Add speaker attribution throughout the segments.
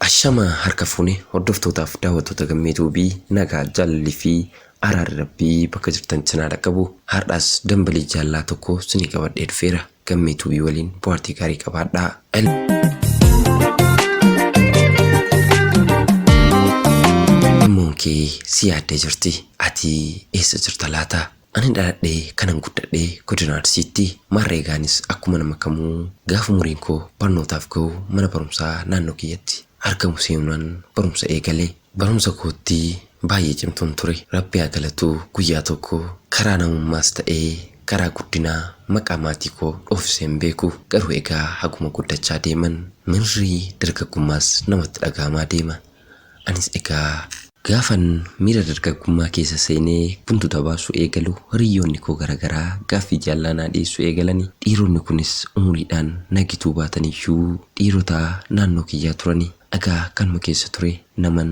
Speaker 1: Ashama harka fuune hordoftootaaf daawwattoota gammee tuubii nagaa jaalalli fi araarri rabbii bakka jirtan sinaa dhaqqabu har'aas dambalii jaallaa tokko sinii qabadhee dhufeera. Gammee Tuubii waliin bohaartii gaarii qabaadhaa. Immoon kee si yaaddee jirti. Ati eessa jirta laata? Ani dhaladhee kanan guddadhe godina Arsiitti. Maarree gaanis akkuma nama kamuu gaafa umuriin koo barnootaaf gahu mana barumsaa naannoo kiyyatti argamu seenuunan barumsa eegale. Barumsa kootti baay'ee cimtuun ture. Rabbi haa galatu guyyaa tokko karaa namummaas ta'ee karaa guddinaa maqaa maatii koo dhoofisee hin beeku. Garuu egaa haguma guddachaa deeman mirri dargaggummaas namatti dhaga'amaa deema. Anis egaa. Gaafan miira dargaggummaa keessa seenee buntuta baasuu eegalu hiriyyoonni koo gara garaa gaaffii jaallaa naa dhiyeessuu eegalani. Dhiironni kunis umuriidhaan na gituu baataniyyuu dhiirota naannoo kiyyaa turani. Dhagaa kanuma keessa ture naman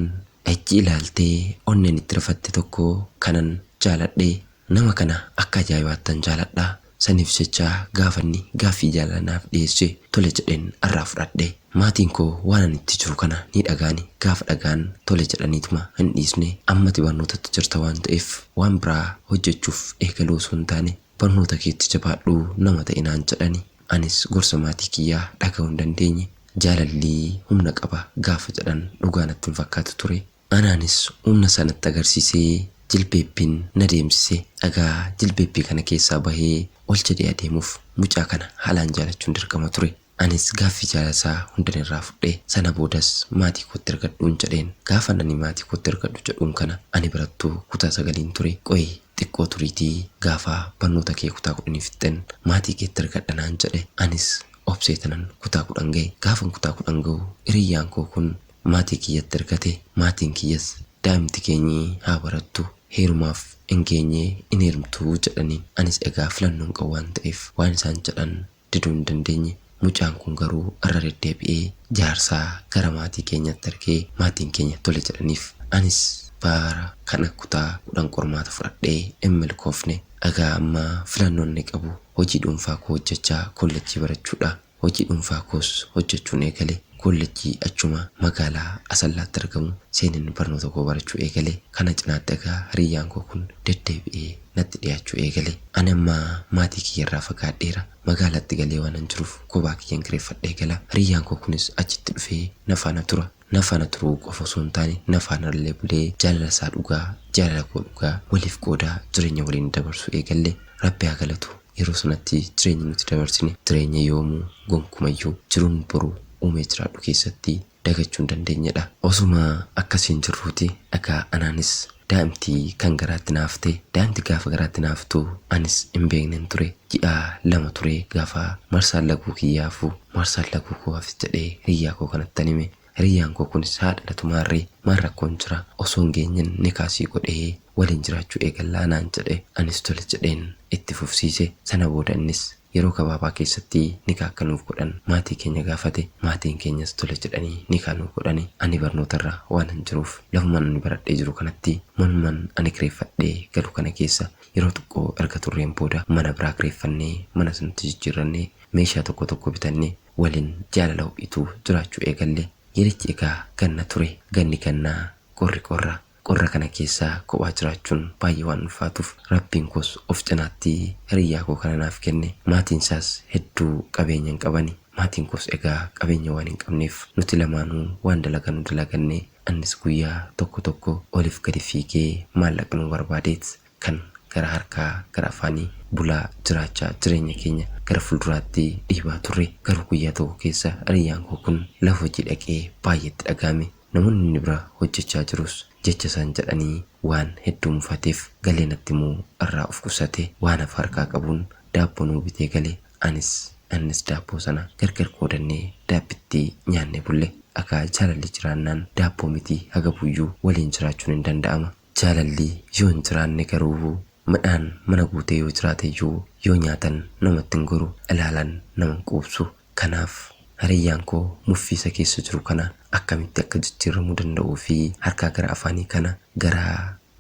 Speaker 1: icci ilaaltee onnen itti rifatte tokko kanan jaaladhe. Nama kana akka ajaa'ibaattan jaaladha. Saniif jecha gaafa inni gaaffii jaalalaa naaf dhiyeesse tole jedhen arraa fudhadhe. Maatiin koo waan ani itti jiru kana ni dhaga'ani gaafa dhaga'an tole jedhaniituma hin dhiisne. Amma ati barnootatti jirta waan ta'eef waan biraa hojjechuuf eegaluu osoo hin taane barnoota keetti jabaadhu nama ta'i naan jedhani. Anis gorsa maatii kiyyaa dhagahuu hin dandeenye. Jaalalli humna qaba gaafa jedhan dhugaa natti hin fakkaatu ture. Anaanis humna isaa natti agarsiisee jilbeebbiin na deemsise. Dhagaa jilbeebbii kana keessaa bahee ol jedhee adeemuuf mucaa kana haalaan jaalachuun dirqama ture. Anis gaaffii jaalala isaa hundan irraa fudhe. Sana boodas maatii kootti ergadhuun jedheen. Gaafan ani maatii kootti ergadhu jedhuun kana ani barattuu kutaa sagaliin ture. Qoyii. Xiqqoo turiitii gaafa barnoota kee kutaa kudhanii fixxen maatii keetti ergadha naan jedhe. Anis obseetanan kutaa kudhan gahe. Gaafan kutaa kudhan gahu hiriyyaan koo kun maatii kiyyatti ergate. Maatiin kiyyas daa'imti keenyi haa barattu, heerumaaf hin geenye hin heerumtu jedhaniin. Anis egaa filannoo hin qabu waan ta'eef waan isaan jedhan diduu hin dandeenye. Mucaan kun garuu irra deddeebi'ee jaarsaa gara maatii keenyaatti ergee maatiin keenya tole jedhaniif. Anis bara kana kutaa 10 qormaata fudhadhee hin milkoofne. Egaa amma filannoon inni qabu hojii dhuunfaa koo hojjechaa koollejjii barachuudha. Hojii dhuunfaa koos hojjechuun eegale. Koollejjii achuma magaalaa Asallaatti argamu seeneen barnoota koo barachuu eegale. Kana cinaatti egaa hiriyyaan koo kun deddeebi'ee. natti dhiyaachuu eegale. Ani amma maatii kiyya irraa fagaadheera. Magaalatti galee waanan jiruuf kophaa kiyyan kireeffadhee gala. Hiriyyaan koo kunis achitti dhufee na faana tura. Na faana turuu qofa osoo hin taane na faanallee bulee jaalala isaa dhugaa, jaalala koo dhugaa waliif qoodaa jireenya waliin dabarsuu eegalle. Rabbi haa galatu yeroo sanatti jireenyi nuti dabarsine jireenya yoomuu, gonkumayyuu, jiruun boru uumee jiraadhu keessatti dagachuu hin dandeenyedha. Osuma akkasiin jirruuti egaa anaanis daa'imti kan garaatti na hafte. Daa'imti gaafa garaatti na haftu anis hin beeknen ture. Ji'a lama ture gaafa marsaan laguu kiyyaa hafu. Marsaan laguu koo hafte jedhee hiriyyaa koo kanattan hime. Hiriyyaan koo kunis haa dhalatu maarree maal rakkoon jira? Osoo hin geenyen nikaa sii godhee waliin jiraachuu eegallaa naan jedhe. Anis tole jedheen itti fufsiise. Sana booda innis Yeroo gabaabaa keessatti nikaa akka nuuf godhan maatii keenya gaafate. Maatiin keenyas tole jedhanii nikaa nuuf godhani. Ani barnootarra waanan jiruuf lafuman ani baradhee jiru kanatti manuman ani kireeffadhee galu kana keessa yeroo xiqqoo erga turreen booda mana biraa kireeffannee manas nutti jijjiirrannee meeshaa tokko tokko bitannee walin jaalala ho'itu jiraachuu eegalle. Yerichi egaa ganna ture. Ganni gannaa, qorri qorra. Qorra kana keessa kophaa jiraachuun baay'ee waan ulfaatuuf Rabbiin koos of cinaatti hiriyyaa koo kana naaf kenne. Maatiin isaas hedduu qabeenya hin qabani. Maatiin koos egaa qabeenya waan hin qabneef nuti lamaanuu waan dalaganu dalaganne. Annis guyyaa tokko tokko oliif gadi fiigee maallaqanuma barbaadeet kan gara harkaa gara afaanii bulaa jiraachaa jireenya keenya gara fulduraatti dhiibaa turre. Garuu guyyaa tokko keessa hiriyyaan koo kun lafa hojii dhaqee baay'ee itti dhaga'ame. Namoonni inni bira hojjechaa jirus jecha isaan jedhanii waan hedduu mufateef galee natti himuu irraa of qusate. Waan hafe harkaa qabuun daabboo nuu bitee gale. Anis innis daabboo sana gargar qoodannee daabbitti nyaannee bulle. Egaa jaalalli jiraannaan daabboo miti hagabuuyyuu waliin jiraachuun hin danda'ama. Jaalalli yoo hin jiraanne garuu midhaan mana guutee yoo jiraateyyuu yoo nyaatan namatti hin goru, ilaalan nama hin quubsu. Kanaaf, hiriyyaan koo muffii isa keessa jiru kana akkamitti akka jijjiirramuu danda'uu fi harkaa gara afaanii kana gara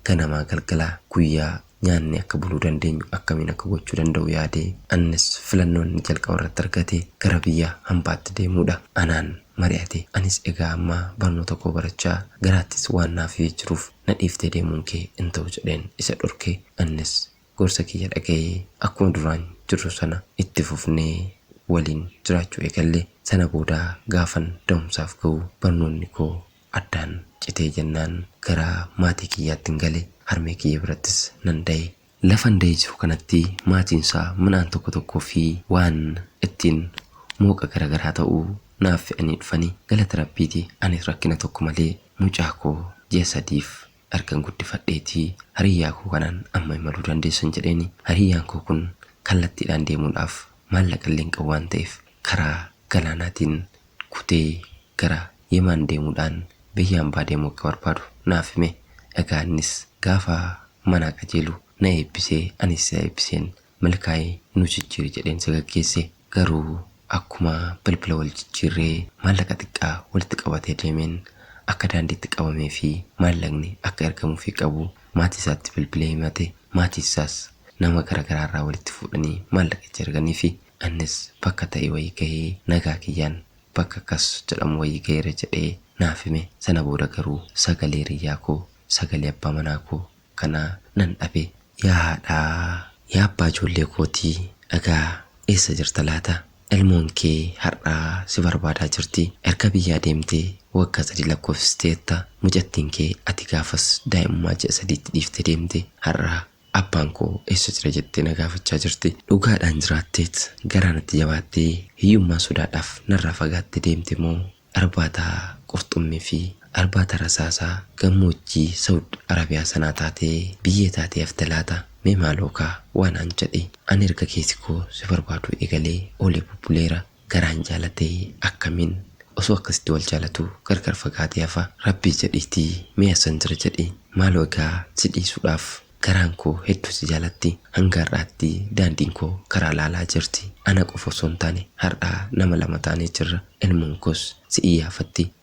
Speaker 1: ganamaa galgala guyyaa nyaannee akka buluu dandeenyu akkamiin akka gochuu danda'u yaade. Annis filannoo inni jalqaba irratti argate gara biyya hambaatti deemuu dha. Anaan mari'ate. Anis egaa amma barnoota koo barachaa, garaattis waan na hafee jiruuf na dhiiftee deemuun kee hin ta'u jedheen isa dhorke. Annis gorsa kiyya dhaga'ee akkuma duraan jirru sana itti fufnee waliin jiraachuu eegalle. Sana booda gaafan da'umsaaf ga'u barnoonni koo addaan citee jennaan gara maatii kiyyaattin gale. Harmee kiyya birattis nan da'e. Lafa Andayi jiru kanatti maatiinsaa midhaan tokko tokkoo fi waan ittiin mooqa gara garaa ta'u naaf fe'anii dhufani. Galata Rabbiiti anis rakkina tokko malee mucaa koo ji'a sadiif ergan guddifadheeti hariyyaa koo kanaan amma imaluu dandeessan jedheeni. Hariyyaan koo kun kallattiidhaan deemuudhaaf maallaqa illee hin qabu waan ta'eef karaa galaanaatiin kutee gara. Yeman deemuudhaan biyya hambaa deemuu akka barbaadu naaf hime. Egaa innis gaafa manaa qajeelu na eebbisee anis isa eebbiseen milkaa'i nu jijjiiri jedheen isa gaggeesse. Garuu akkuma bilbila wal jijjiirree maallaqa xiqqaa walitti qabatee deemeen akka daandiitti qabamee fi maallaqni akka ergamuufii qabu maatii isaatti bilbilee himate. Maatiin isaas nama gara garaa irraa walitti fuudhanii maallaqa itti erganiifi. Annis bakka ta'e wayii gahee nagaa kiyyaan bakka akkas jedhamu wayii gaheera jedhee naaf hime. Sana booda garuu sagalee hiriyyaa koo, sagalee abbaa manaa koo kana nan dhabe. Yaa haadhaa, yaa abbaa ijoollee kootii dhagaa eessa jirta laata? Ilmoon kee har'a si barbaadaa jirti. Erga biyyaa deemtee waggaa sadii lakkoofsisteetta. Mucattiin kee ati gaafas daa'imummaa ji'a sadiitti dhiiftee deemte. Har'a Abbaan koo eessa jira jettee na gaafachaa jirti. Dhugaadhaan jiraatteet garaa natti jabaattee hiyyummaa sodaadhaaf narraa fagaattee deemte moo arbaata qurxummii fi arbaata rasaasaa gammoojjii Sawud Arabiyaa sanaa taatee biyyee taatee hafte laata? Mee maalookaa waa naan jedhi. Ani erga keesi koo si barbaaduu eegalee oolee bubbuleera. Garaan jaalate akkamin osoo akkasitti wal jaalatu gargar fagaate hafa rabbii jedhiiti mee hassan jira jedhi maaloo egaa si dhiisudhaaf garaan koo hedduu si jaalatti hanga har'aatti daandiin koo karaa laalaa jirti ana qofa osoo hin taane har'aa nama lama taanee jirra ilmoon koos si iyyaafatti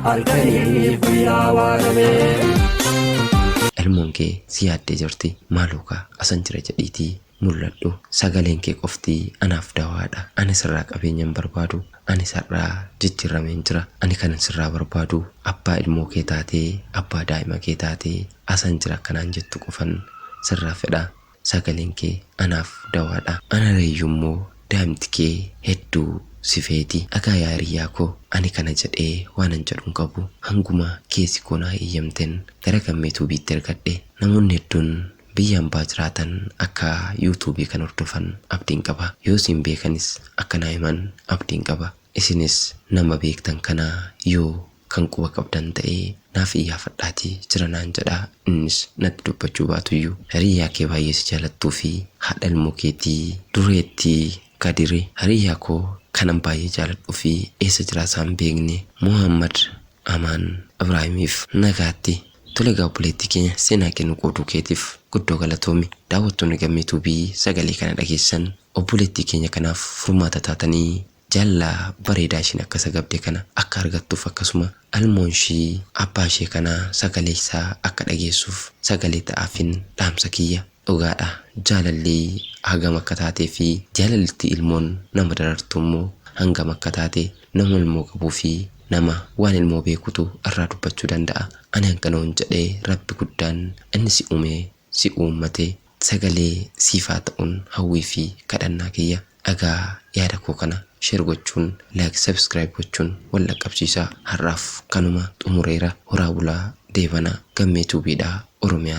Speaker 2: halkanii guyyaa waaramee.
Speaker 1: Elmoon kee si yaaddee jirti maaloo kaa asan jira jedhiitii mul'adhu sagaleen kee qofti anaaf dawaadha ani sirraa qabeenya hin barbaadu anis har'aa jijjiirrameen jira ani kanan sirraa barbaadu abbaa ilmoo kee taatee abbaa daa'ima kee taatee asan jira akka naan jettu qofan sirraa fedha sagalen kee anaf dawaadha ana reyyu immoo daimti kee heddu si feeti akaa yaa hiriyyaa koo ani kana jedhee waanan jedhu hin qabu hanguma keessi koo naa eyyamten gara gamme tube tti ergadhe namoonni heddun biyya ambaa jiraatan akka you tube kan hordofan abdin qaba yoo siin beekanis akka naa himan abdin qaba. Isinis nama beektan kana yoo kan quba qabdan ta'e naaf iyyaafadhaatii jira naan jedhaa, innis natti dubbachuu baatuyyuu hiriyyaa kee baay'ee si jaalattuu fi haadha ilmoo keetii dureettii Kadiri hiriyyaa koo kanan baay'ee jaaladhuu fi eessa jiraasaa hin beekne Mohaammad Amaan Ibraahimiif nagaatti Tole egaa obboleettii keenya seenaa kee nu qooduu keetiif guddoo galatoomi. Daawwattoonni Gammee Tuubii sagalee kana dhageessan Obboleettii keenya kanaaf furmaata taatanii jaalala bareedaa ishiin akka isa gabde kana akka argattuuf akkasuma almoon ishii abbaa ishee kana sagalee isaa akka dhageessuuf sagalee ta'aafin dhaamsa kiyya. Dhugaadha jaalalli hagam akka taatee fi jaalalli itti ilmoon nama darartu immoo hangam akka taate nama ilmoo qabuu fi nama waan ilmoo beekutu irraa dubbachuu danda'a. Ani hanganuun jedhee Rabbi guddaan inni si ume, si uummate, sagalee siif haa ta'un hawwii fi kadhannaa kiyya dhaga'aa yaada koo kana share gochuun like subscribe gochuun wal dhaqqabsiisaa har'aaf kanuma xumureera horaa bulaa deebanaa gammee tube dhaa oromiyaa.